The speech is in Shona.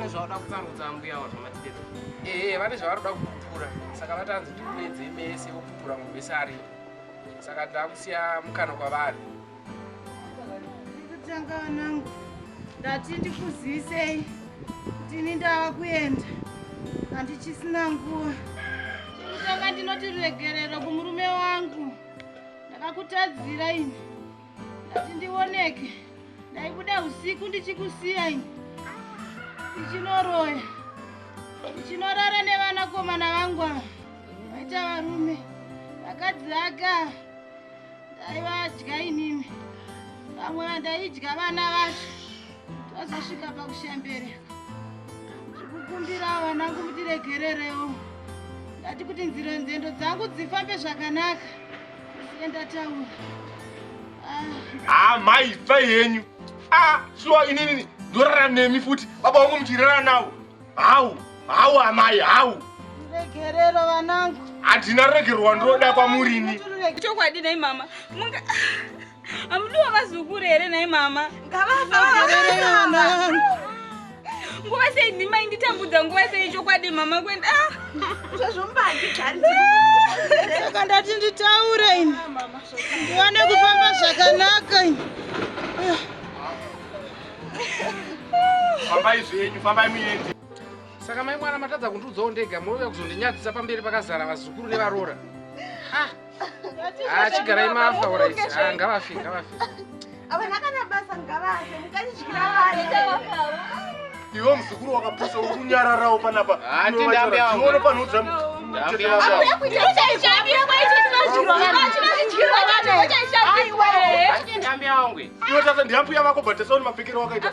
vane zvavada kutsarudza mbuya avo zvamatidero ee vane zvavaroda kupupura saka vatanzi tikunedze mese vopupura mubese ari saka taakusiya mukana kwavari ndikutanga vanangu ndati ndikuzivisei tini ndava kuenda handichisina nguva ndikutanga ndinoti regerero kumurume wangu ndakakutadzira ini ndati ndioneke ndaibuda usiku ndichikusiya ini ndichinoroya ndichinorara nevanakomana vangu ava vaita varume vakadzi aka ndaivadya inini vamwe vandaidya vana vacho tazosvika pakushembere zvikukumbira vana kumutiregererewo ndati kuti nzira nzendo dzangu dzifambe zvakanaka siye ndataura ah. ah, mai fa yenyu ah, shuwa inini ndorara nemi futi baba wangu muchirara nawo hau hau amai hau regerero vanangu handina regerwa ndoda kwamurini chokwadi nei mama Amudiwa vazukuru here nhai mama? Ngavafa. Nguva sei ndima inditambudza nguva sei chokwadi mama kwenda. Ah! Zvazvombati gari. Saka ndati nditaure ini. Ndiwane kufamba zvakanaka ini. Fambai zvenyu, fambai muende. Saka mai mwana matadza kundiudzawo ndega mouya kuzondinyadzisa pamberi pakazara vazukuru nevaroora. Ha! Ah, chigarai mafa urit ah, ngavafi ngavafi avana kana basa ngavafe mukanityira ivo muzukuru wakapusa ukunyararawo panapa atione panoudza iwe tasa ndiambuya vako but tasaoni mapfekero wakaita